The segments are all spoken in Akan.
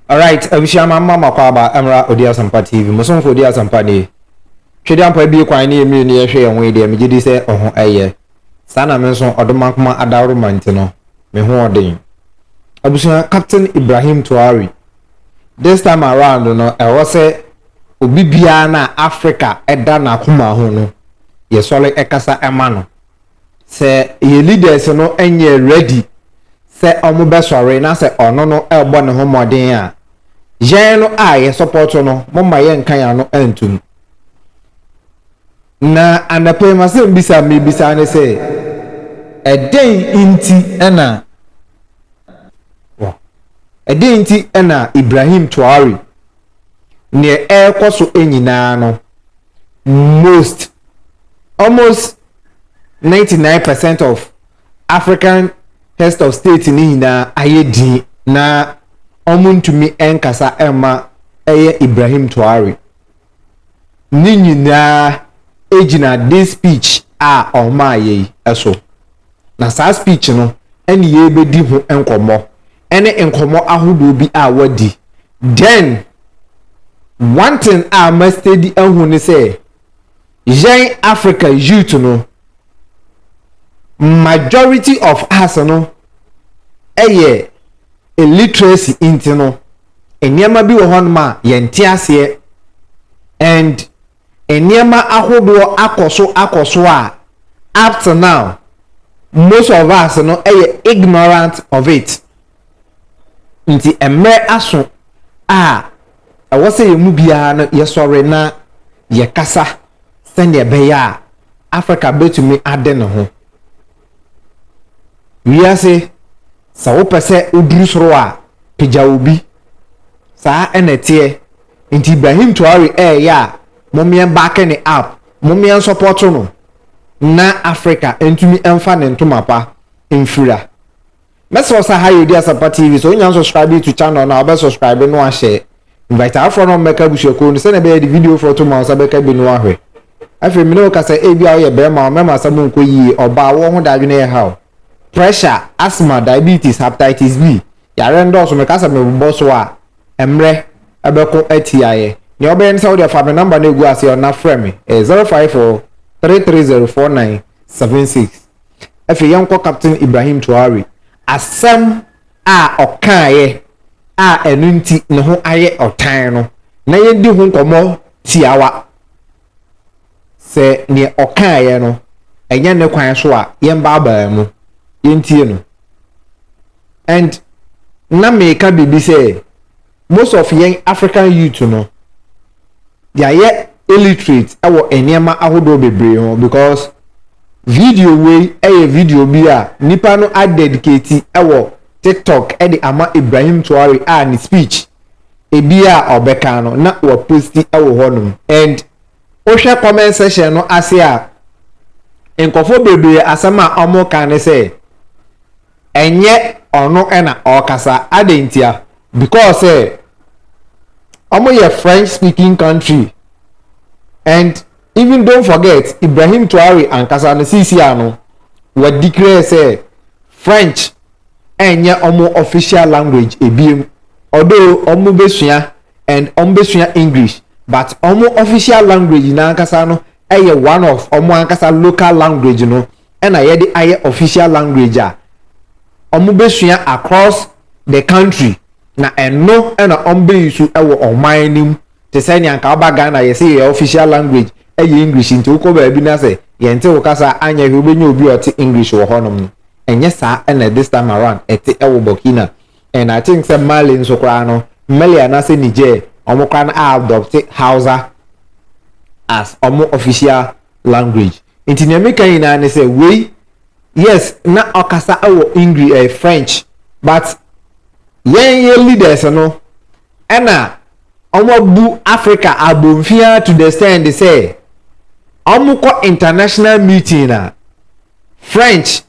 Alright, abusua ma mma makɔ aba mmra Odi Asɛmpa TV. Mo somfo Odi Asɛmpa nie. Twɛdi ampa abue kwan ne yɛn mmienu yɛhwɛ yɛn ho yi deɛ megye di sɛ ɔho ɛyɛ. Saa na me nso ɔdɔ makoma adaworo ma nti no, me ho ɔden. Abusua, Captain Ibrahim Touari, this time around no ɛwɔ sɛ obi biara na Africa ɛda n'akoma ho no, yɛsɔre ɛkasa ɛma no. sɛ yɛ leaders no nyɛ ready sɛ ɔmo bɛ sɔre na sɛ ɔno no ɛbɔ ne ho mmɔden a yɛn no a yɛ support no mo ma yɛ nka yɛ ano ntom na anɔpa yi ma sɛ mbisa me bisa ne sɛ ɛdɛn nti ɛna ɛdɛn nti ɛna Ibrahim Traore neɛ ɛrekɔ so nyinaa no most almost ninety nine percent of African heads of state ne nyinaa ayɛ din na wɔn ntumi nkasa ɛma ɛyɛ Ibrahim Traore ne nyinaa gyina this speech a wɔn ayɛ yi so. Na saa speech no ɛne yɛrebɛdi ho nkɔmmɔ ɛne nkɔmmɔ ahodoɔ bi a wadi. Then one thing a ma steady ahu ne sɛ yɛn Africa youth no majority of us no ɛyɛ illiteracy nti no nneɛma bi wɔ hɔnom a yɛnte aseɛ and nneɛma ahodoɔ akɔ so akɔ so a up to now most of us no yɛ ignorant of it. Nti mmerɛ aso a ɛwɔ sɛ yɛn mu biara no yɛsɔre na yɛkasa sɛdeɛ ɛbɛyɛ a Africa bɛtumi ade ne ho. Wiase, sɛ wopɛ sɛ woduru soro a, pagya obi. Saa na ɛteɛ. Nti Ibrahim Traore ɛɛ ya a momeɛ nbacke ne up, momeɛ nsɔpɔto no na Africa ntumi nfa ne ntoma pa nfira. Mɛsrɛ wo sɛ aha yɛ Odeasepa TV sɛ wonya nsubscribe to channel no a wobɛ subscribe no ahyɛ invite afoforɔ na wɔmmɛka abusuakuo no sɛdeɛ ɛbɛyɛ yɛde video foɔ to ma wo nsa bɛka bi no ahwɛ. Afei mene wo kasa ebia woyɛ barima a mɛma asɛm nkɔ yie, ɔbaa woɔ ho dadwene ɛha wo. pressure, asthma, diabetes, hepatitis B, yareɛ no dɔɔso, meka sɛ mebobɔ so a, mmerɛ bɛko atia yɛ. Nea wobɛyɛ ne sɛ wodeɛ fa me number no ɛgu aseɛ na frɛ me, ɛyɛ 0543304976. Afei yɛnkɔ Captain Ibrahim Traore. Asɛm a ɔkaeɛ a ɛno nti ne ho ayɛ ɔtan no, na yɛdi ho nkɔmmɔ tiawa. sɛ nea ɔkaeɛ no ɛnyɛ ne kwan so a yɛmbaabaa mu yɛntie no and na meka biribi sɛ most of yɛn African youth no yɛayɛ illiterate ɛwɔ nneɛma ahodoɔ bebree ho because video wei ɛyɛ video bi a nipa no adedicate ɛwɔ TikTok ɛde ama Ibrahim Traore a ne speech ebi a ɔbɛka no na waposti wɔ hɔnom and wohwɛ comment section no ase a nkurɔfoɔ bebree asɛm a wɔka ne sɛ ɛnyɛ ɔno na ɔrekasa adɛn ntia because sɛ wɔyɛ French speaking country and even don't forget Ibrahim Traore ankasa no sisi ano wɔdeclare sɛ French ɛnyɛ ɔmo official language ebiem although ɔmo bɛsua and ɔmo bɛsua English but ɔmo official language no ankasa no ɛyɛ one of ɔmo ankasa local language no ɛna yɛde ayɛ official language a ɔmo bɛsua across the country na ɛno ɛna ɔmo bɛyi so ɛwɔ ɔman no mu. te sɛ nea anka woba Ghana yɛse yɛ official language ɛyɛ English nti wokɔ baabi na sɛ yɛnte wo kasa a anyɛ hwee wobɛnya obi a ɔte English wɔ hɔnom no ɛnyɛ saa na this time around ɛte ɛwɔ Burkina and I think sɛ Mali nso koraa no Mali anaasɛ Niger wɔn koraa no a adopte Hausa as wɔn official language nti nea meka nyinaa ne sɛ wei yes na ɔkasa ɛwɔ English ɛyɛ French but yɛn yɛ leaders no ɛna wɔabu Africa abomfiaa to the extent sɛ wɔkɔ international meeting a French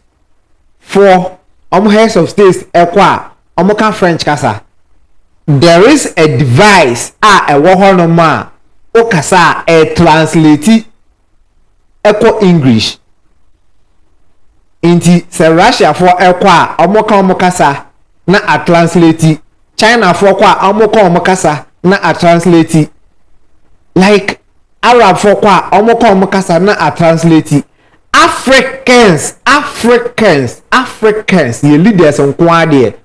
foɔ wɔn heads of states ɛkɔ a wɔka French kasa there is a device a ɛwɔ hɔ nom a wokasa a ɛtranslate kɔ English. Nti sɛ Russiafoɔ kɔ a, wɔka wɔn kasa na atransleti. Chinafoɔ kɔ a, wɔka wɔn kasa na atransleti. Like Arabfoɔ kɔ a, wɔka wɔn kasa na atransleti. Africans, Africans, Africans, yɛ leaders nko ara deɛ,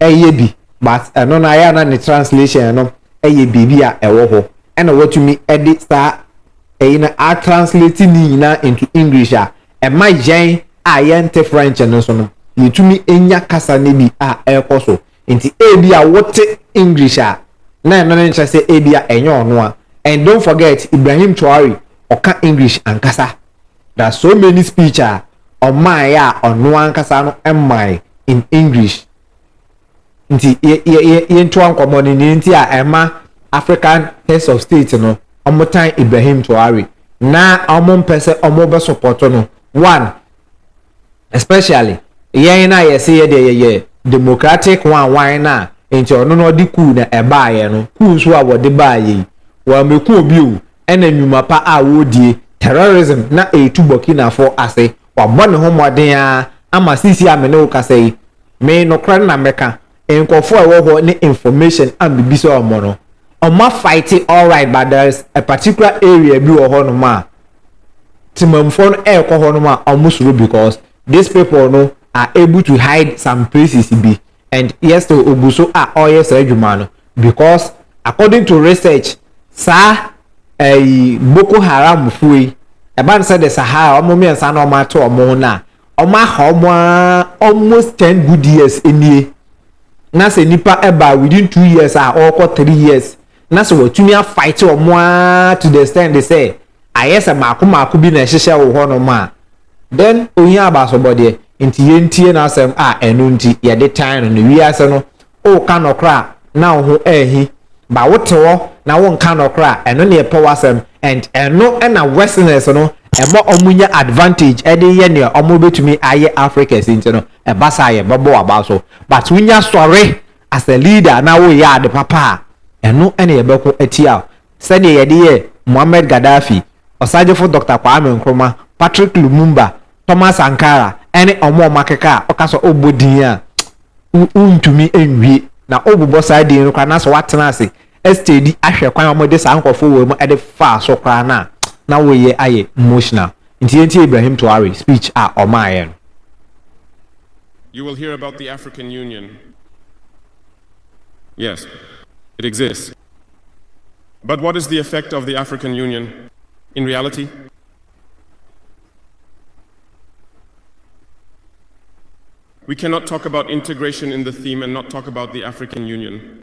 ɛyɛ bi but ɛno no ayɛ a na ne translation no ɛyɛ biribi a ɛwɔ hɔ ɛna watumi ɛde saa ɛyi no a translate ne nyinaa into English a ɛma yɛn a yɛnte French no so no yɛtumi nya kasa no bi a ɛrekɔ so nti ebi a wote English a na ɛno no nkyerɛ sɛ ebi a ɛnyɛ ɔno a and don't forget Ibrahim Traore ɔka English ankasa na so many speech a ɔmaeɛ a ɔno ankasa no mmae in English nti yɛntoa nkɔmmɔ no ne nti a ɛma African heads of state no wɔtan Ibrahim Traore na wɔmpɛ sɛ wɔbɛsopɔto no one especially yɛn no a yɛse yɛ deɛ yɛyɛ democratic wanwan no a nti ɔno no ɔde kuu na ɛbaeɛ no kuu nso a wɔde baeɛ yi wɔamɛku obi o na nnwuma pa a wɔredie, terrorism na ɛretu Burkina fo ase, wabɔ ne ho mmɔden ara ama seesei a me ne wo kasa yi, me nokorɛ no na mɛka, nkorɔfoɔ a ɛwɔ hɔ ne information a mebisa wɔn no, wɔn afighte alright but there is a particular area bi wɔ hɔnom a temamfoɔ no ɛrekɔ hɔnom a wɔsuro because these people no are able to hide some places bi, and yet still ogu so a ɔreyɛ saa adwuma no because according to research saa ɛyi Boko Haram fo yi ɛba no sɛ de Sahara wɔn mmiɛnsa na wɔn ato wɔn ho no a wɔn aha wɔn ara almost ten good years nie na sɛ nipa ɛba within two years a ɔrekɔ three years. na sɛ watumi afaete wɔn ara to the extent sɛ ayɛ sɛ mako mako bi na ɛhyehyɛ wo hɔnom a then ohia abasobɔdeɛ nti yɛntie n'asɛm a ɛno nti yɛde tan no no wiase no woka nɔkorɛ a na wo ho ahi ba wote hɔ na wonka nɔkorɛ a ɛno na yɛpɛ w'asɛm and ɛno na westerners no ɛma ɔmo nya advantage ɛde yɛ nea ɔmo bɛtumi ayɛ Africa si nti no ɛba saa yɛbɛbɔ w'aba so but wonya sɔre As a leader na wo yɛ ade papa a, ɛno na yɛ bɛko atia wo. Sɛdeɛ yɛde yɛ Muammar Gaddafi, Ɔsagyefo Dɔkta Kwame Nkrumah, Patrick Lumumba, Thomas Sankara ɛne ɔmo a ɔmo akeka a woka sɛ wobɔ din a wo ntumi nwie na wobobɔ saa din no koraa na sɛ woatena ase steady ahwɛ kwan a wɔde saa nkorɔfoɔ wei mu de faa so koraa no a na wo yɛ ayɛ emotional nti yɛn tie Ibrahim Traore speech a ɔmaa yɛ no. You will hear about the African Union yes it exists but what is the effect of the African Union in reality? We cannot talk about integration in the theme and not talk about the African Union.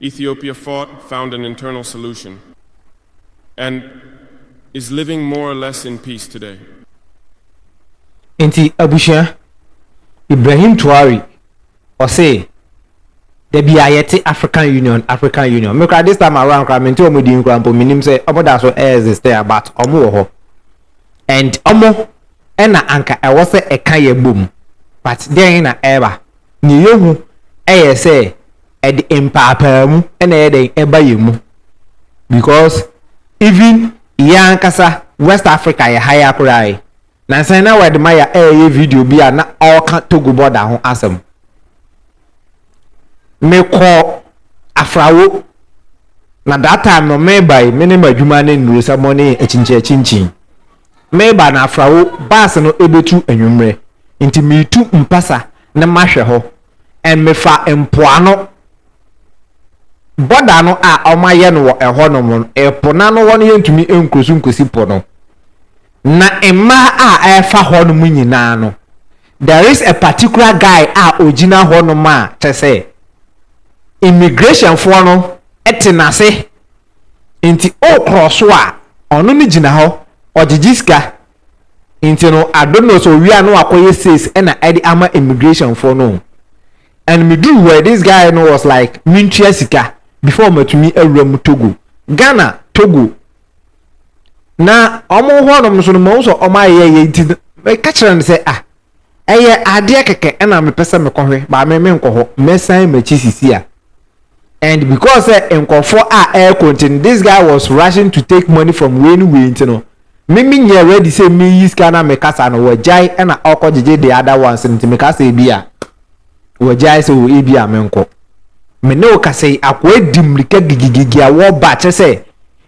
Ethiopia fought, found an internal solution and is living more or less in peace today. Nti abusua, Ibrahim Traore ɔse dabi a yɛte African Union, African Union. Me koraa this time around koraa mente ɔmo din koraa mpo, menim sɛ ɔmo da so ɛɛzistɛ a but ɔmo wɔ hɔ and ɔmo ɛna anka ɛwɔ sɛ ɛka yɛn bom but dɛn na ɛɛba? Nea yɛhu ɛyɛ sɛ ɛde mpaapaamu na ɛyɛ dɛn ɛba yɛn mu because even yɛn ankasa West Africa yɛ ha ya koraa yi nansa na wɔde ma yɛ ɛyɛ video bi a na ɔka Togo border ho asɛm mekɔ afrawo na that time no meba yi me ne ma adwuma ne nnuro sɛ mo ne akyinkyin akyinkyin meba na afrawo baase no ebetu anwummerɛ nti metu mpasa na mahwɛ hɔ. and mefa mpoano border no a wɔayɛ no wɔ ɛhɔ nom no, ɛpo no ano hɔ no yɛntumi nkɔ so nkɔsi po no. Na mmaa a ɛfa hɔ nom nyinaa no, there is a particular guy a ɔgyina hɔ nom a kyɛ sɛ immigration foɔ no te n'ase nti wokorɔ so a ɔno no gyina hɔ ɔgyegye sika Nti no I don't know sɛ owie a na wakɔyɛ says ɛna ɛde ama immigration foɔ no o. And me duru hɔ this guy no was like mentua sika before matumi awura mu Togo. Ghana, Togo na wɔn hɔnom nso no mahu sɛ wɔn ayɛyɛ nti meka kyerɛ no sɛ ah ɛyɛ adeɛ kɛkɛ ɛna mepɛ sɛ mekɔhwɛ baa me menkɔ hɔ mɛsan m'akyi sisi a and because sɛ nkɔfoɔ a ɛrekɔ nti no this guy was rushing to take money from wei ne wei nti no me me nyɛ ready sɛ meyi sika na mekasa no wɔgyae ɛna ɔkɔ gyegye the other ones nti mekasa ebi a wɔgyae sɛ wɔ ebi a menkɔ me ne wo kasa yi akoa di mmirika gigigigi a wɔba kyɛ sɛ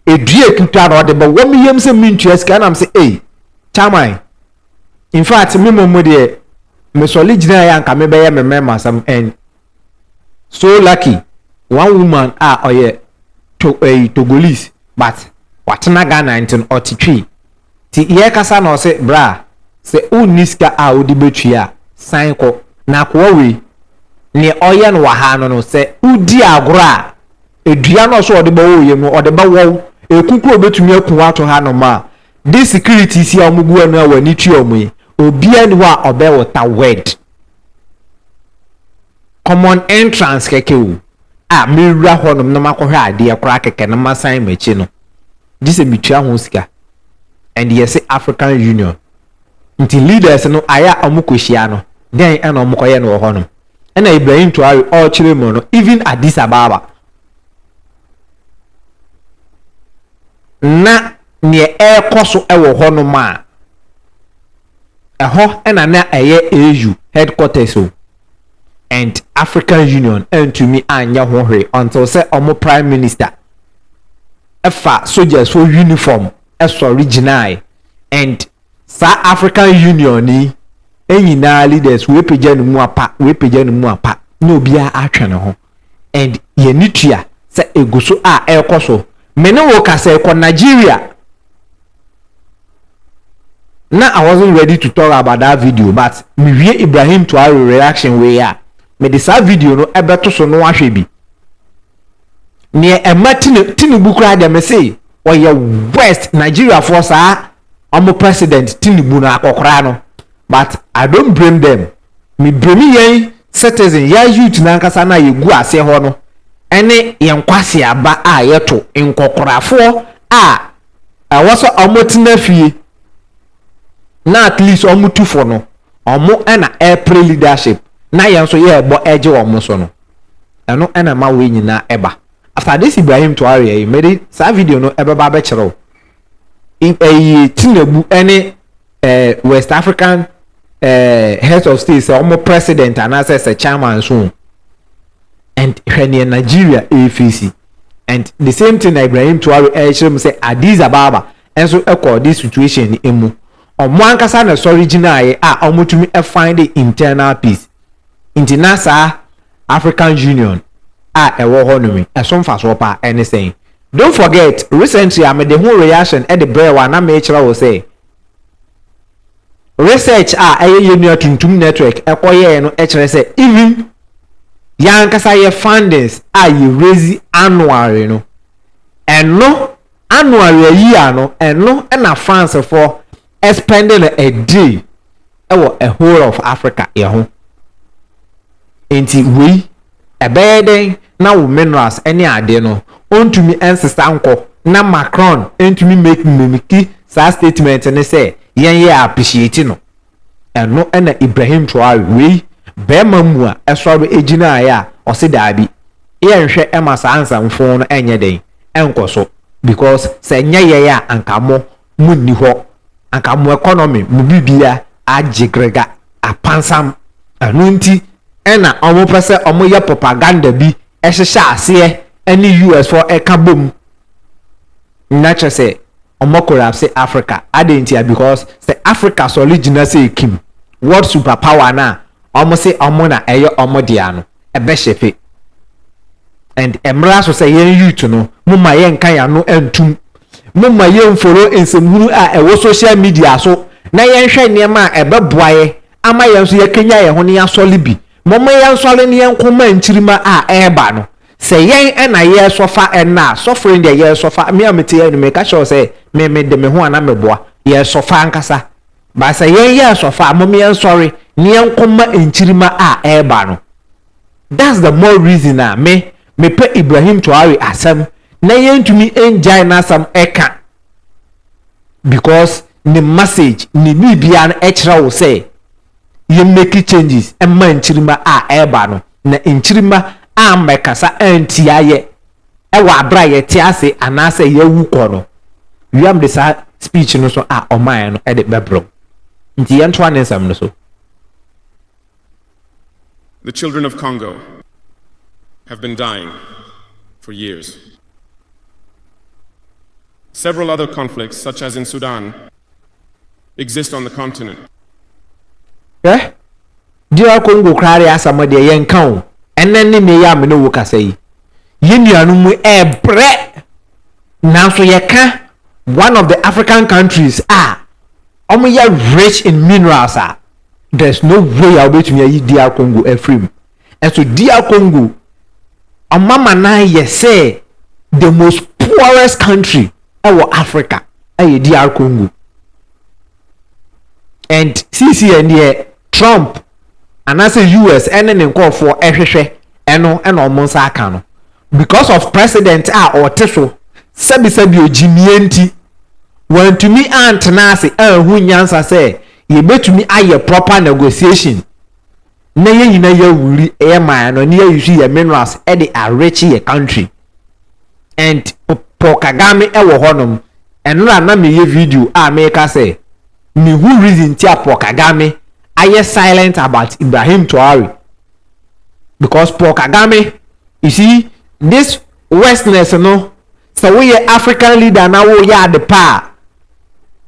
edua ekuta na ɔde bɛwɔ me yam sɛ mentua sika ɛnam sɛ ei chairman infact me mmom mo deɛ mesɔre gyinaeɛ a nka mebɛyɛ me mmarima asɛm and so lucky one woman a ɔyɛ to ɛyi togolese but watena ghana nti no ɔte twi ti yɛkasa na ɔse bra sɛ wonni sika a wode bɛtwi a san kɔ na akoa wei neɛ ɔyɛ no wɔ ha no no sɛ wodi agorɔ a edua no ɔso ɔde bɛwɔ yam no ɔde bɛwɔ wo ɛkukuro bɛtumi aku ato ha nom a This securities yi a wɔn gu wɔn a wɔn ani tua wɔn yi obiara ni hɔ a ɔbɛ wota word common entrance kɛkɛ o a mewura hɔ nom na makɔhwɛ adeɛ koraa kɛkɛ na masan m'akyi no gye sɛ metua ho sika and yɛse African Union nti leaders no ayɛ a wɔn kɔhyia no dɛn ɛna wɔn kɔyɛ no wɔ hɔ nom ɛna Ibrahim Traore ɔrekyerɛ mu no even Addis Ababa na nea ɛrekɔ so wɔ hɔnom a, ɛhɔ na na ɛyɛ AU headquarters o, and African Union antumi anyɛ ho hwee until sɛ wɔn Prime Minister fa sogyasfo uniform sɔre gyinae, and saa African Union yi nyinaa leaders, wei pagya ne mu apa, wei pagya ne mu apa, na obiara atwe ne ho. and yɛn ani tua sɛ egu so a ɛrekɔ so. Me ne wo ka sɛ kɔ Nigeria na I wasn't ready to talk about that video but me wie Ibrahim Traore reaction wei a me de saa video no ɛbɛto so no ahwɛ bi. Neɛ ɛma Tinubu koraa deɛ me se ɔyɛ worst Nigeria foɔ saa ɔmo president Tinubu no akɔkoraa no but I don't blame them Me blame yɛn citizen, ya youth no ankasa no a yɛgu aseɛ hɔ no ɛne yɛn nkwaseaba a yɛto nkɔkorafoɔ a ɛwɔ sɛ ɔmo tena fie na at least ɔmo tu fo no ɔmo ɛna ɛpre leadership na yɛn nso yɛɛbɔ ɛgye ɔmo so no ɛno ɛna ɛma wei nyinaa ɛba After this Ibrahim Tuareɛ yi mede saa video no ɛbɛba abɛkyerɛ wo ɛyɛ Tinubu ne eh, West African eh, heads of state sɛ wɔn president anaasɛ sɛ chairman so and hwɛ neɛ Nigeria ɛrefeesi and the same thing na Ibrahim Traore ɛrekyerɛ mu sɛ Addis Ababa nso ɛkɔ this situation no mu wɔn ankasa na ɛsɔre gyinaeɛ a wɔtumi find the internal peace nti na saa African Union a ɛwɔ hɔ nom ɛso mfasoɔ paa ɛne sɛn Don't forget, recently a mede ho reaction de brɛɛ wo a na merekyerɛ wo sɛ research a ɛyɛ yɛn nua Tuntum Network kɔ yɛɛ no kyerɛ sɛ even yɛn ankasa yɛ fundings a yɛ raise annually no, ɛno annually a yia no, ɛno na Francefoɔ spending no ɛdee ɛwɔ a whole of Africa yɛ ho nti wei ɛbɛyɛ dɛn na wo minerals ɛne adeɛ no ɔntumi ɛnsesa nkɔ na Macron ɛntumi make mimiki saa statement no sɛ yɛn yɛ appreciate no ɛno ɛna Ibrahim Traore wei bɛɛma mu a ɛsɔre ɛgyinaeɛ a ɔse daabi yɛnhwɛ ɛma saa nsɛmfoo no ɛnyɛ dɛn ɛnkɔ so because sɛ nyɛ yɛn a anka mo mu nni hɔ anka mo economy mo bibia agye grega apansam ɛno nti ɛna ɔmo pɛ sɛ ɔmo yɛ propaganda bi ɛhyehyɛ aseɛ ɛne US foɔ ɛka bom na kyerɛ sɛ ɔmo collapse Africa adɛn ntia because sɛ Africa sɔre gyina sɛ kim world super power no a ɔmo se ɔmo na ɛyɛ ɔmo dea no ɛbɛhyɛpe and ɛmmra so sɛ yɛn youth no mo ma yɛnka yɛn ano ntum mo ma yɛmforo nsɛmhunu a ɛwɔ social media so na yɛnhwɛ nneɛma a ɛbɛboa yɛ ama yɛn nso yɛakanya yɛn ho ne yɛasɔre bi mɔmɔ yɛn nsɔre ne yɛn nkɔma nkyirima a ɛreba no sɛ yɛn ɛna yɛresɔfa ɛna sɔfo yi deɛ yɛresɔfa me a mete yɛn no meka kyerɛw sɛ me me de me ho ana meboa yɛresɔfa ankasa Ba sɛ yɛn yɛ asɔfo a mom yɛn sɔre ne yɛn ko ma nkyirimma a ɛreba no that's the more reason a me me pɛ Ibrahim Traore asɛm na yɛn ntumi ngyae n'asɛm ɛka because ne message ne biribiara no ɛkyerɛ wo sɛ yɛn make changes ɛma nkyirimma a ɛreba no na nkyirimma a mmɛkasa antia yɛ wɔ aber a yɛtse ase anaasɛ yɛawu kɔ no, Wiam de saa speech no so a ɔmae no de bɛbrɛw. Ntsi yɛntoa ne nsɛm no so. The children of Congo have been dying for years. Several other conflicts, such as in Sudan, exist on the continent. Hwɛ! DR Congo koraa deɛ asa mɔ deɛ yɛnka o, ɛnɛ ne nnɛ yi a me ne wo kasa yi, yɛn nuanom mu ɛɛbrɛ, nanso yɛka one of the African countries a wɔyɛ rich in minerals a, there's no way a wobɛtumi ayi DR Congo afiri mu. Ɛso DR Congo, wɔn amanan yɛ sɛ the most poorest country ɛwɔ Africa ɛyɛ DR Congo. And sisi yɛn deɛ, Trump anaasɛ US ne ne nkorɔfoɔ hwehwɛ ɛno na wɔn nsa aka no because of president a ɔte so sɛbisɛbi ogyimie nti wantumi antena ase anhu nyansa sɛ yɛbɛtumi ayɛ proper negotiation na yɛn nyina yɛawuri yɛ mine no na yɛayusu yɛ minerals de areche yɛ country and Paul Kagame wɔ hɔnom ɛnora na meyɛ video a meka sɛ Me hu reason ti a Paul Kagame ayɛ silent about Ibrahim Traore because Paul Kagame you see this westness no sɛ wo yɛ African leader na wo yɛ ade pa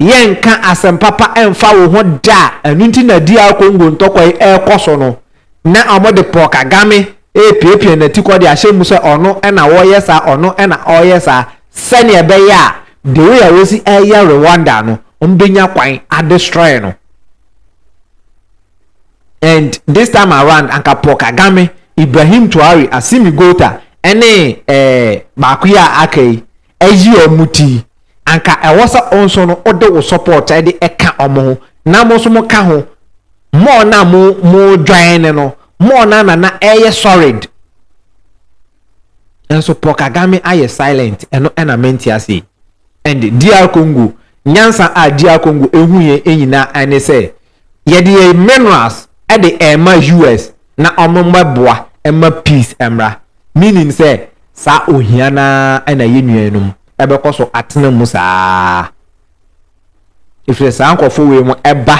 a yɛ nka asɛm papa ɛnfa wo ho da ɛnu nti na DR Congo ntɔkwa yi ɛkɔ so no Ná wɔde Paul Kagame repiapia n'atikɔ de ahyɛ mu sɛ ɔno na ɔreyɛ saa, ɔno na ɔreyɛ saa, sɛnea ɛbɛyɛ a the way a wɔsi reyɛ Rwanda no, wɔbɛnya kwan adestroy no. And this time around, anka Paul Kagame, Ibrahim Traore, Assimi Goita, ɛne ɛɛ baako yi a aka yi, ayi wɔn ti, anka ɛwɔ sɛ wo nso no wode wo support de ka wɔn ho na mo nso moka ho, more no a mo mo join no, more no a na na ɛyɛ solid. Nanso Paul Kagame ayɛ silent, ɛno ɛna mente ase. And DR Congo, nyansa a DR Congo ehu yɛ nyinaa ɛne sɛ, Yɛde yɛn minerals de rema US na wɔmmɛboa mma peace mmra. Meaning sɛ saa ohia no ara na yɛn nuanom bɛkɔ so atena mu saa ara. Ɛfiri saa nkurɔfoɔ wei mo ɛba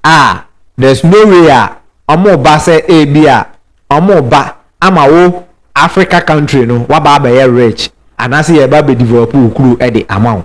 a, there's no way a wɔreba sɛ ebi a wɔreba ama wo Africa country no waba abɛyɛ rich anaasɛ yɛreba abɛdevelop wo kuro de ama wo.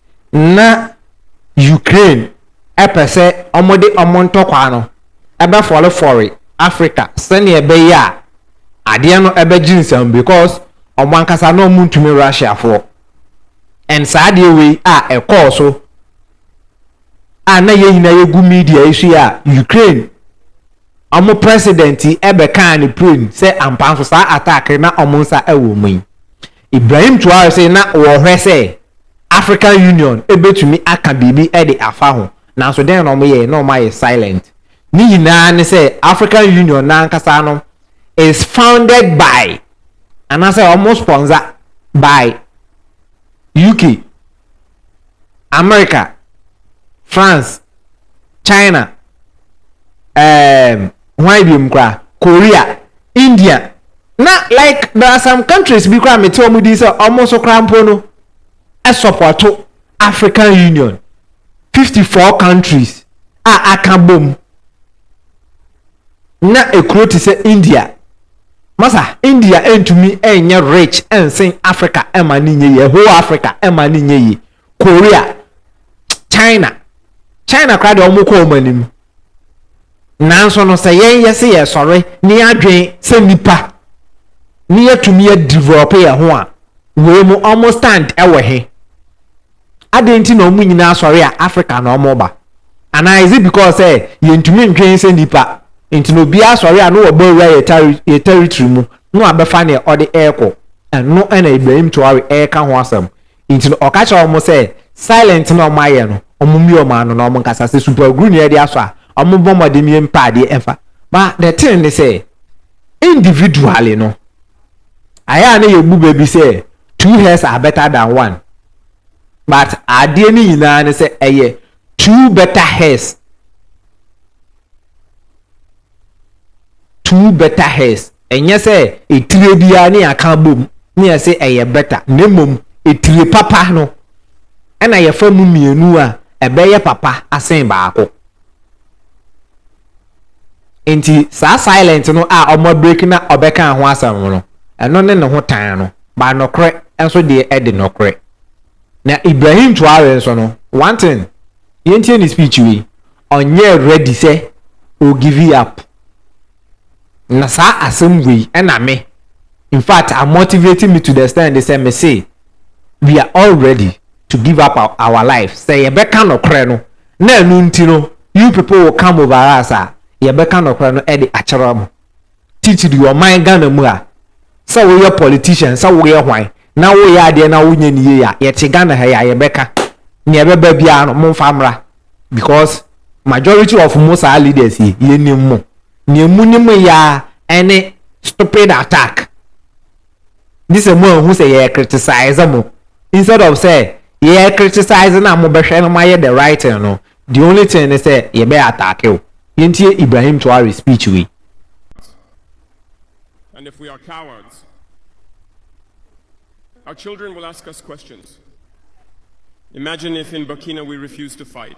na Ukraine pɛ sɛ wɔde wɔn ntɔkwa no bɛfɔrefɔre Africa sɛnea ɛbɛyɛ a adeɛ no bɛgye nsam because wɔn ankasa na wɔntumi Russiafoɔ and saa adeɛ wei a ɛkɔɔ so a na yɛn nyinaa yɛgu media yi so yi a Ukraine wɔn president bɛkaa ne plane sɛ ampa nso saa attack na wɔn nsa wɔ mu yi Ibrahim toaa so se na wɔhwɛ sɛ African Union betumi aka biribi de afa ho, nanso dɛn na wɔyɛe? Na wɔayɛ silent. Ne nyinaa ne sɛ African Union no ankasa no is founded by anaasɛ wɔspɔnsa by UK. Amerika, France, China, um, hwan biom koraa, Korea, India, na like there are some countries bi koraa mete wɔn din sɛ wɔn nso koraa mpo no ɛsɔpɔto African Union fifty four countries a aka bom. na ekuro te sɛ India masa India ntumi nyɛ rich nsen Africa ɛma ne nyɛ yie whole Africa ɛma ne nyɛ yie Korea China China koraa deɛ wɔn kɔ wɔn anim nanso no sɛ yɛn yɛ se yɛ sɔre ne adwen sɛ nipa ne yɛtumi yɛ develop yɛn ho a wei mu wɔn stand ɛwɔ he. Adɛn nti na wɔn nyinaa sɔre a Africa na wɔba? Anaa is it because sɛ yɛntumi ntwɛn sɛ nnipa nti na obiara sɔre a na wɔbɔ awura yɛ tari yɛ territory mu na wabɛfa nea ɔde ɛrekɔ? Ɛno na Ibrahim Traore reka ho asɛm. Nti no ɔka kyerɛ wɔn sɛ silent na wɔn ayɛ no wɔn mmue wɔn ano na wɔn nkasa sɛ super aguru na yɛde asɔ a wɔn mmɔ mmɔden yɛ mpa adeɛ ɛmfa. But the thing ne sɛ individually no ayɛ a na yɛbu bɛ bi sɛ two heads are better than one. but adeɛ no nyinaa ne sɛ ɛyɛ two better hairs two better hairs ɛnyɛ sɛ etire biara ne aka bom ne yɛsɛ ɛyɛ better na mmom etire papa no ɛna yɛfa mu mmienu a ɛbɛyɛ papa asen baako Nti saa silent no a ɔmo abreak na ɔbɛkaa ho asɛm no, ɛno ne ne ho tan no, but nɔkorɛ nso deɛ ɛde nɔkorɛ. Na Ibrahim Traore nso no, one thing, yɛntie ne speech wei, ɔnyɛɛ ready sɛ o give up. Na saa asɛm wei ɛna me, in fact a motivate me to the extent sɛ me se we are all ready to give up our life sɛ yɛbɛka nɔkorɛ no Na ɛno nti no, you people will come over us a, yɛbɛka nɔkorɛ no de akyerɛ mo. Titiri ɔman Ghana mu a, sɛ woyɛ politician, sɛ woyɛ hwan, na woyɛ adeɛ na wonyɛ no yie a, yɛte Ghana ha yi a, yɛbɛka. Deɛ ɛbɛba biara no, momfa mmra. Because majority of mo saa leaders yi, yɛnim mo. Deɛ monim yɛ ara ne stupid attack. gye sɛ mo anhu sɛ yɛ criticize mo instead of sɛ yɛ criticize no a mo bɛhwɛ no mo ayɛ the right thing no the only thing ne sɛ yɛ bɛ attack o yɛn ti yɛ Ibrahim Traore speech wei. And if we are cowards, our children will ask us questions. Imagine if in Burkina we refuse to fight.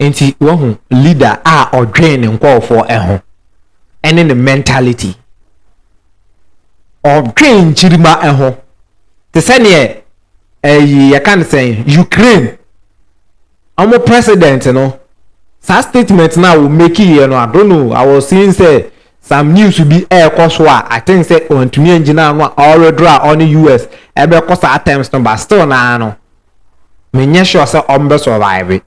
Nti wahu leader a ɔdwen ne nkɔɔfoɔ ɛho ɛne ne mentality. Ɔdwen nkyirima ɛho. Te sɛ neɛ ɛyi yɛka ne sɛn Ukraine. Ɔmo president no saa statement no a wɔmeki yɛ no I don't know I was seeing sɛ some news bi ɛɛkɔ so a I think sɛ ɔntumi angyina ano a ɔredoro a ɔne US ɛbɛkɔ saa terms no but still naa no mennyɛ sure sɛ ɔmbɛ survive.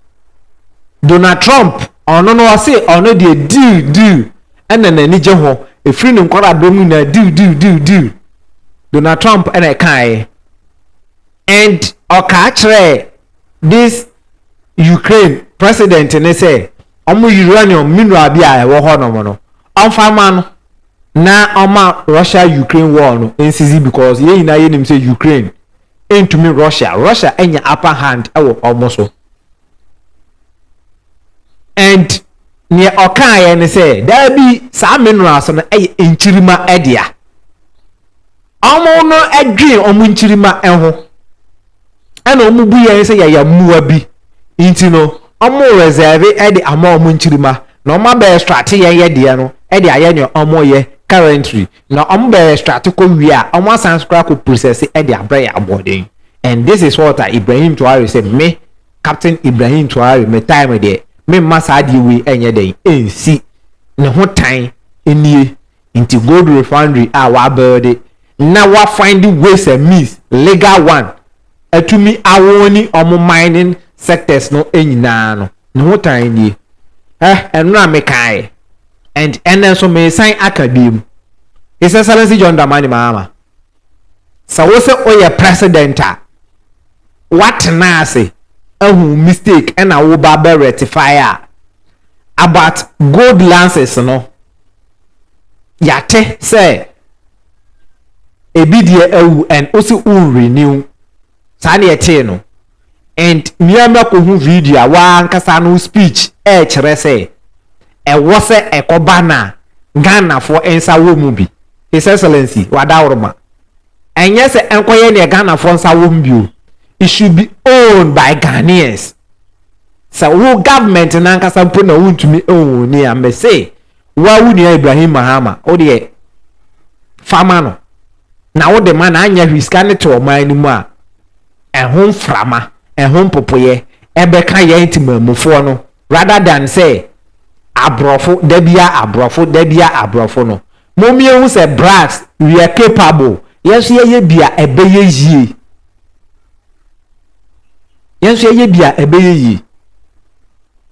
Donald Trump ɔno no ɔse ɔno deɛ deal deal ɛna n'ani gye ho ɛfiri ne nkwaradɔm no nyinaa deal deal deal deal Donald Trump ɛna ɛkaeɛ and ɔkaa kyerɛɛ this Ukraine president ne sɛ ɔmo uranium mineral bi a ɛwɔ hɔ nom no ɔmfa ma no na ɔma Russia Ukraine war no ɛnsisi because yɛn nyinaa yɛnim sɛ Ukraine ntumi Russia Russia anya upper hand wɔ wɔn so and neɛ ɔkaeɛ ne sɛ daabi saa minerals no yɛ nkyirima dea wɔn no dwen wɔn nkyirima ho ɛna wɔn bu yɛn sɛ yɛyɛ mmoa bi nti no wɔn reserve de ama wɔn nkyirima na wɔn abɛ extract yɛn yɛ deɛ no de ayɛ nea wɔn yɛ currently. Na wɔn bɛ extracte kɔ wie a wɔn asan nso koraa akɔ processe ɛde abrɛ yɛn aboɔden and this is what a Ibrahim Traore sɛ me Captain Ibrahim Traore me time deɛ me mma saa adeɛ wei ɛnyɛ dɛn ɛnsi ne ho tan ɛnie nti gold refinery a wa builde na wa findde ways and means legal one atumi aown wɔn mining sectors no nyinaa no ne ho tan ɛnie eh ɛno na me kaeɛ. and ɛnnɛ nso meresan aka biom, His Excellency John Dramani Mahama, sɛ wo sɛ woyɛ president a, woatena ase ahu mistake ɛna wo ba bɛ rectify a, about gold lances no, yɛate sɛ ebi deɛ awu and wosi wo renew. saa na yɛtee no and nua no akɔhu video a w'ankasa no speech ɛrekyerɛ sɛ ɛwɔ sɛ ɛkɔba na Ghanafoɔ nsa wɔ mu bi His Excellency Wadaworoma ɛnyɛ sɛ ɛnkɔyɛ neɛ Ghanafoɔ nsa wɔ mu bi o it should be owned by Ghanaians sɛ wo government no ankasa mpo na wontumi own ni a mese Woa wo nua Ibrahim Mahama wodeɛ fa ma no na wode ma no anyɛ hwee sika no te ɔman no mu a ɛho mframa ɛho mpopoyɛ ɛbɛka yɛn temammufoɔ no rather than sɛ aborɔfo da bia aborɔfo da bia aborɔfo no mommie hu sɛ blacks we are capable yɛn nso yɛyɛ bia ɛbɛyɛ yie. yɛn nso yɛyɛ bi a ɛbɛyɛ yie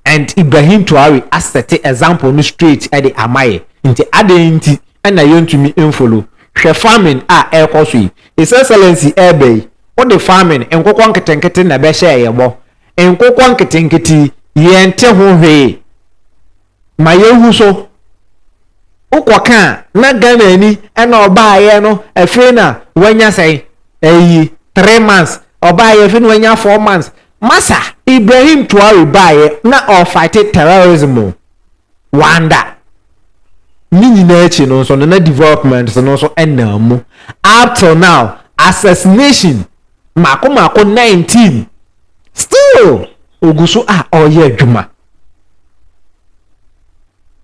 and ibrahim tuare asɛte example no straight ɛde ama yɛ nti adɛn nti ɛna yɛntumi mfolo hwɛ farming a ɛrekɔ so yi his excellency ɛreba yi wode farming nkokɔ nketenkete na ɛbɛhyɛ yɛ bɔ nkokɔ nketenkete yi yɛnte ho hwee Ma yɛnhu so, wokɔ ka a na Ghanani na ɔbaeɛ no afei na wanya sɛn? Ayi, three months. Ɔbaeɛ afei na wanya four months. Masa, Ibrahim Traore baeɛ na ɔrefighte terrorism o, wanda. Ne nyinaa akyi no nso no na developments no nso nam mu. Up till now, assassination mako mako 19 still ogu so a ɔreyɛ adwuma.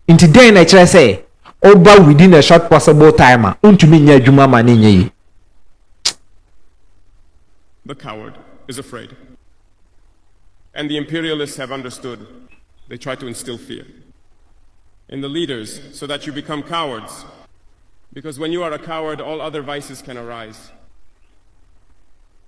nti dɛn na ɛkyerɛ sɛ ɔba within a short possible time a ontumi nyɛ adwuma ma ne nyɛ yi. The coward is afraid. And the imperialists have understood. They try to instill fear in the leaders so that you become cowards. Because when you are a coward, all other vices can arise.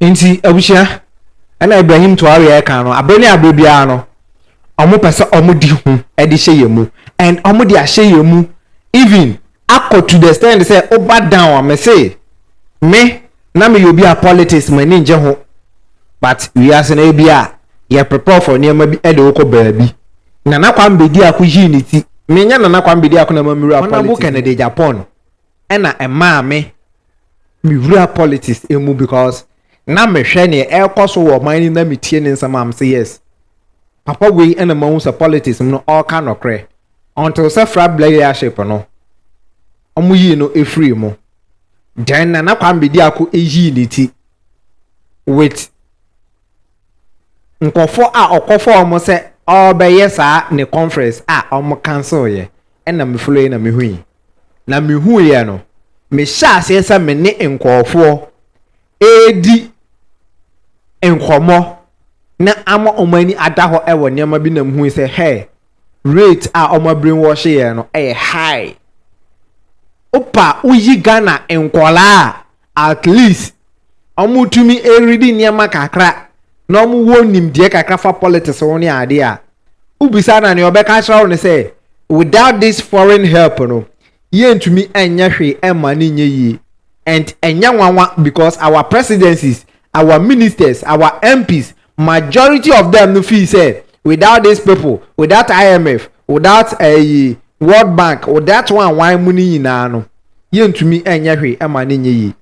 Enti abusua, ɛna Ibrahim Traore ɛka no, abere ne abere biara no, wɔn pɛ sɛ wɔn di ho ɛde hyɛ yɛn mu, and wɔn de ahyɛ yɛn mu, even akɔ to the extent sɛ ɔba down a, me se, me na me yɛ obi a politics mo ani ngye ho, but wiase no ebi a, yɛ prepare for nneɛma bi ɛde wokɔ baabi. Nana Kwame Bedi Ako yii ne ti, me nyɛ Nana Kwame Bedi Ako na ma me wura politics mu. Honourable Kennedy Agyapong ɛna ɛmaa me mewura politics mu because na mehwɛ nea ɛrekɔ so wɔ ɔman no na metie ne nsɛm a mesɛ yes papa wei ɛna mahu sɛ politics mu no ɔreka nɔkorɛ until sɛ fra black leadership no wɔn yii no efiri mu then nana kwame bedi ako eyii ne ti with nkorɔfoɔ a ɔkɔfa wɔn sɛ ɔrebɛyɛ saa ne conference a wɔn cancel yɛ ɛna me follow yɛ na me hui na me hu yɛ no me hyɛ aseɛ sɛ me ne nkorɔfoɔ ɛredi nkɔmɔ na ama wɔn ani ada hɔ ɛwɔ nneɛma bi na me hui sɛ hɛɛ rate a ɔmo brain wash yɛ no yɛ high wopa woyi Ghana nkɔlaa a at least ɔmo tumi redi nneɛma kakra na ɔmo wɔ nimdeɛ kakra fa politics ho ne adeɛ a wobisa na nea ɔbɛka akyerɛ wo no sɛ without this foreign help no yɛntumi nyɛ hwee ɛmma no nyɛ yie and ɛnyɛ nwanwa because our presidencies our ministers, our MPs, majority of them no feel say without these people, without IMF, without ɛyi eh, World Bank, without one one mu no nyinaa no, yɛntumi ɛnyɛ hwee ɛma no nyɛ yie.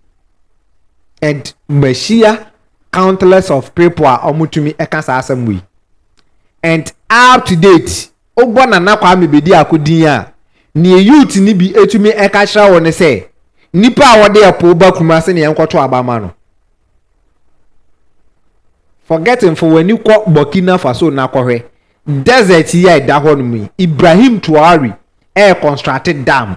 And mahyia countless of people a wɔtumi ɛka saa asɛm wei. And up to date, Wobɔ Nana Kwame Bediako din a, nea Youth no bi tumi ka kyerɛ wo ne sɛ, Nipa a ɔde ɛpo ba Kumasi na yɛnkɔto aba mma no. Forget him, fa w'ani kɔ Burkina Faso na kɔhwɛ. Desert yi a ɛda hɔnom yi, Ibrahim Traore reconstruct dam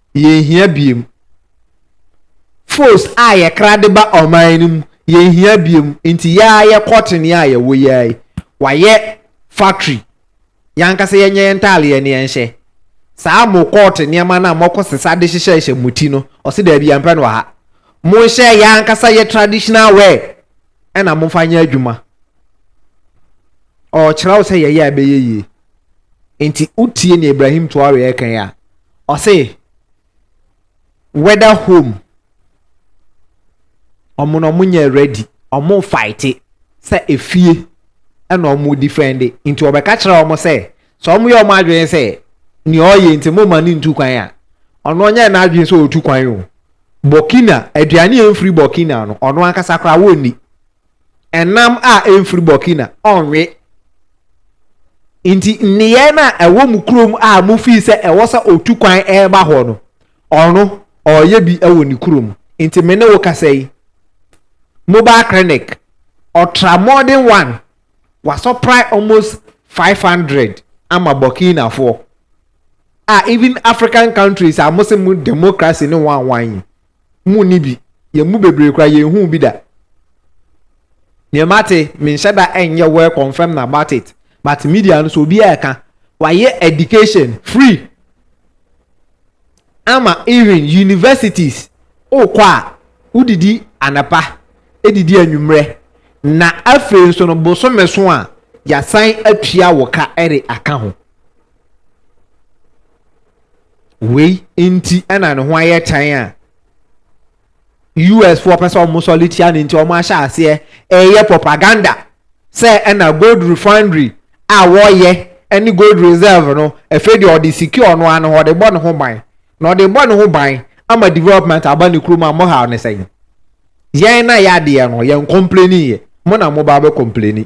yɛnhia biom. Foes a yɛkra de ba ɔman no mu, yɛnhia biom. Nti yɛ ara yɛ cotton yi a yɛwɔ yi ara yi, wɔayɛ factory. Yɛn ankasa yɛnyɛ yɛn ntaadeɛ ne yɛnhyɛ. Saa mo cotton nneɛma no a moakɔ sesa de hyehyɛhyɛ mo ti no, ɔse daabi yɛmpɛ no wɔ ha. Monhyɛ yɛn ankasa yɛ traditional wear ɛna momfa nyɛ adwuma. Ɔrekyerɛ wo sɛ yɛyɛ a ɛbɛyɛ yie. Enti wotie nea Ibrahim Traore reka yi a, ɔse whether home ɔmo na ɔmo nyɛ ready, ɔmo fighte sɛ efie ɛna ɔmo defende. Nti ɔbɛka kyerɛ ɔmo sɛ, sɛ ɔmo yɛ ɔmo adwene sɛ nea ɔyɛ nti mo ma no ntu kwan a, ɔno ɔnyɛ n'adwene sɛ ɔtu kwan o. Burkina, aduane a ɛmfiri Burkina no, ɔno ankasa koraa wɔnni. ɛnam a ɛmfiri Burkina ɔnwe. Nti nneyɛɛ no a ɛwɔ mu kurom a mofii sɛ ɛwɔ sɛ ɔtu kwan ɛreba hɔ no, ɔno ɔreyɛ bi wɔ ne kurom. Nti me ne wo kasa yi, mobile clinic, ɔtra modern one, wasɔprae almost 500 ama Burkinafoɔ a even African countries a mo se mo democracy ne wanwan yi, mu ni bi. Yɛn mu bebree koraa, yɛnhuu bi da. Nea mate, menhyɛ da nyɛ well confirmed about it, but media no so obiara ɛka. Wɔayɛ education free ama even universities. Wokɔ a, wodidi anapa, edidi anwummerɛ, na afei nso no bosome so a, yɛasan atua wo ka de aka ho. Wei nti na ne ho ayɛ tan a US foɔ pɛ sɛ wɔn sɔre tia no nti wɔn ahyɛ aseɛ ɛreyɛ propaganda sɛ ɛna gold refinery a wɔyɛ ɛne gold reserve no ɛfɛ deɛ ɔde secure no ano hɔ ɔde bɔ ne ho ban na ɔde bɔ ne ho ban ama development aba ne kurom a mo haw ne sɛn yɛn na yɛ adeɛ no yɛn complaini yɛ mo na mo ba bɛ complaini.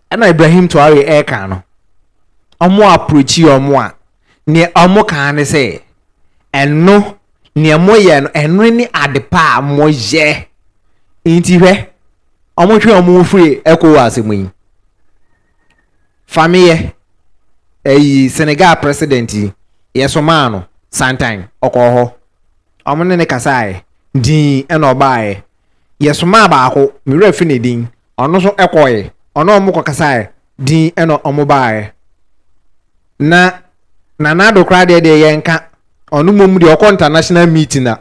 Ɛna Ibrahim Traore ɛreka no, ɔmo approach ɔmo a, neɛ ɔmo kaa ne sɛ, ɛno neɛ moyɛ no ɛno ne adepa a moyɛ. Nti hwɛ, ɔmo twe ɔmo ho firi Ecowas mu yi. Fameyɛ, ɛyi Senegal president yi, yɛsomaa no santan, ɔkɔɔ hɔ. Ɔmo ne no kasaaɛ, dinn ɛna ɔbaaɛ. Yɛsomaa baako, me werɛ afi ne din, Ɔno nso kɔɔe, ɔne wɔn kɔkasae, dinn na wɔn baaɛ. Na Nana Addo koraa deɛ deɛ yɛnka, ɔno mmom deɛ ɔkɔ international meeting a,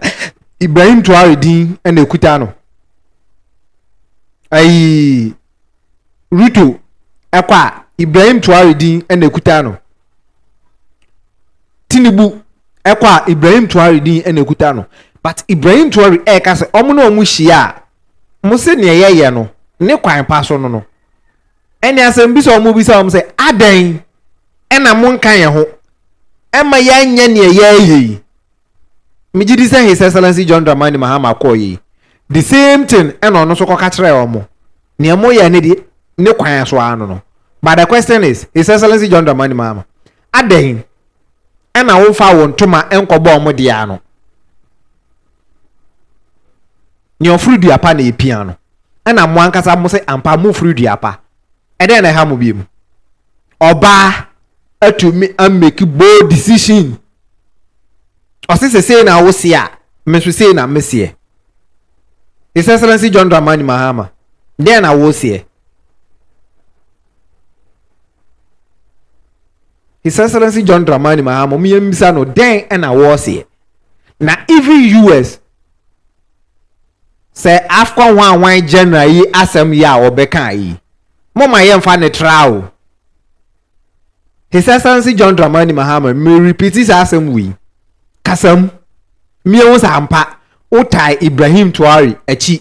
Ibrahim Traore din na ɛkuta no. Ayi, Ruto kɔ a, Ibrahim Traore din na ɛkuta no. Tinubu kɔ a, Ibrahim Traore din na ɛkuta no. But Ibrahim Traore ɛreka sɛ wɔn ne wɔn hyia a, wɔn sɛ nea yɛyɛ no ne kwan pa so no no, ɛne asɛmbisa a wɔbisa wɔn sɛ, Adɛn na monka yɛn ho ma yɛanyɛ nea yɛreyɛ yi? Megye di sɛ His Excellency John Dramani Mahama kɔɔ yi. The same thing ɛna ɔno nso kɔka kyerɛɛ wɔn. Nea moyɛ no deɛ ne kwan so ara no no. But the question is, His Excellency John Dramani Mahama, Adɛn na womfaa wo ntoma nkɔbɔɔ mo dea ano? Nea ɔforo dua pa na epia no. Ɛna mo ankasa mo se ampa momforo dua pa. Ɛdɛn na ɛha mo biom? Ɔbaa atumi a make bold decision. Ɔse sɛ sei na wo se a, me nso sei na me seɛ. His Excellency John Dramani Mahama, dɛn na wo seɛ? His Excellency John Dramani Mahama ɔmo yɛn bisa no dɛn ɛna wɔɔseɛ na even US sɛ AFCON hwanhwan general yi asɛm yi a ɔbɛka yi mo ma yɛn fa ne tra o His Excellency John Dramani Mahama me repeat saa asɛm wei kasam mmea ho saa mpa wotae Ibrahim Tuari akyi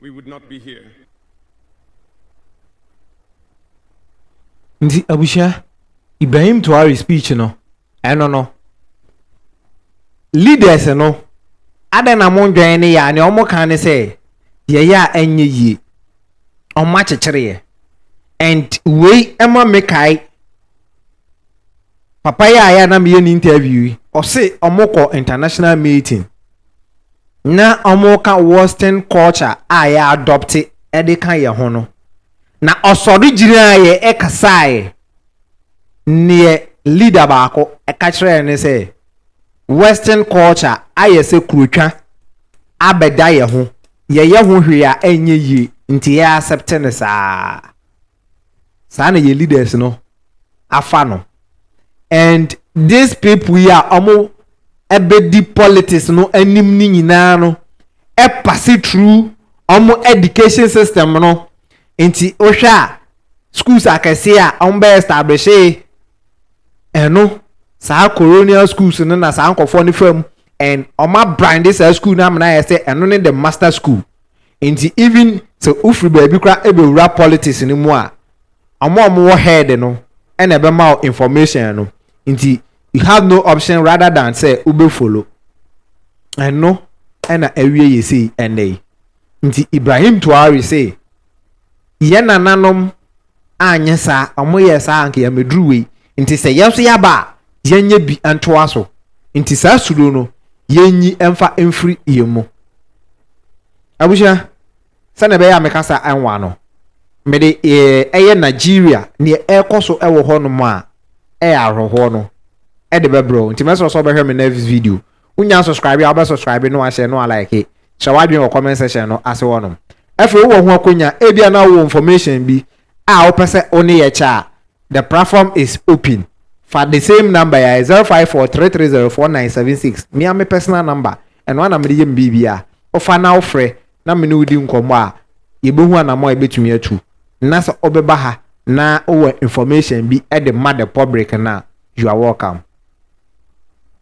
we would not be here. Nti abusua, Ibrahim Traore speech no, ɛno no, leaders no, adɛn na mo ndwɛn ne yɛ a, nea wɔn kan ne sɛ, yɛyɛ a ɛnyɛ yie, wɔn akyekyere yɛ, and wei ɛma mekae papa yi a yɛ na meyɛ ne interview yi ɔse wɔkɔ international meeting na wɔka western culture a yɛ adɔpte de ka yɛ ho no na ɔsɔre gyinaeɛ ɛkasaeɛ neɛ leader baako ɛka kyerɛɛ ne sɛ western culture ayɛ sɛ kurotwa abɛda yɛ ho yɛyɛ ho hwee a ɛnyɛ yie nti yɛ accept ne saa saa na yɛ leaders no afa no and these people yi a ɔmo ɛbɛdi politics no anim no nyinaa no ɛpase through ɔmo education system no nti wohwɛ a schools akɛseɛ a ɔmo bɛ establish ɛno saa colonial schools no na saa nkɔfoɔ no fam and ɔma brande saa school no amena yɛ sɛ ɛno ne the master school Nti even sɛ wofiri baabi koraa ɛbɛwura politics no mu a, wɔn a wɔn wɔ head no ɛna ɛbɛma wo information no, nti you have no option rather than sɛ wobɛ follow. Ɛno ɛna awie yɛ sei ɛnnɛ yi. Nti Ibrahim Traore say yɛn nananom anyɛ saa a wɔn yɛɛ saa a anka yɛamɛduru wei nti sɛ yɛn nso yɛaba a yɛnyɛ bi ntoa so nti saa suro no yɛnyi mfa mfiri yɛn mu abusua sɛnea ɛbɛyɛ a mekasa ɛnwa no mede ɛyɛ Nigeria neɛ ɛrekɔ so ɛwɔ hɔ nom a ɛyɛ ahorohoɔ no ɛde bɛbrɛ nti mɛsrɛ sɛ ɔbɛhwɛ me next video Wonya subscribe a wobɛ subscribe na wahyɛ na walike. Kyerɛ w'adwene wɔ comment section no ase hɔnom. Afei wowɔ ho akwanya, ebia na wowɔ information bi a wopɛ sɛ wo ne yɛ kyɛ a, the platform is open. Fa the same number yi a ɛyɛ zero five four three three zero four nine seven six, me ara me personal number, ɛno ara na mede yɛ me biribiara. Wofa na wofrɛ na me ne wo di nkɔmmɔ a, yɛbɛhu anammɔn a yɛbɛtumi atu. Na sɛ wobɛba ha na wowɔ information bi de ma the public no a, you are welcome.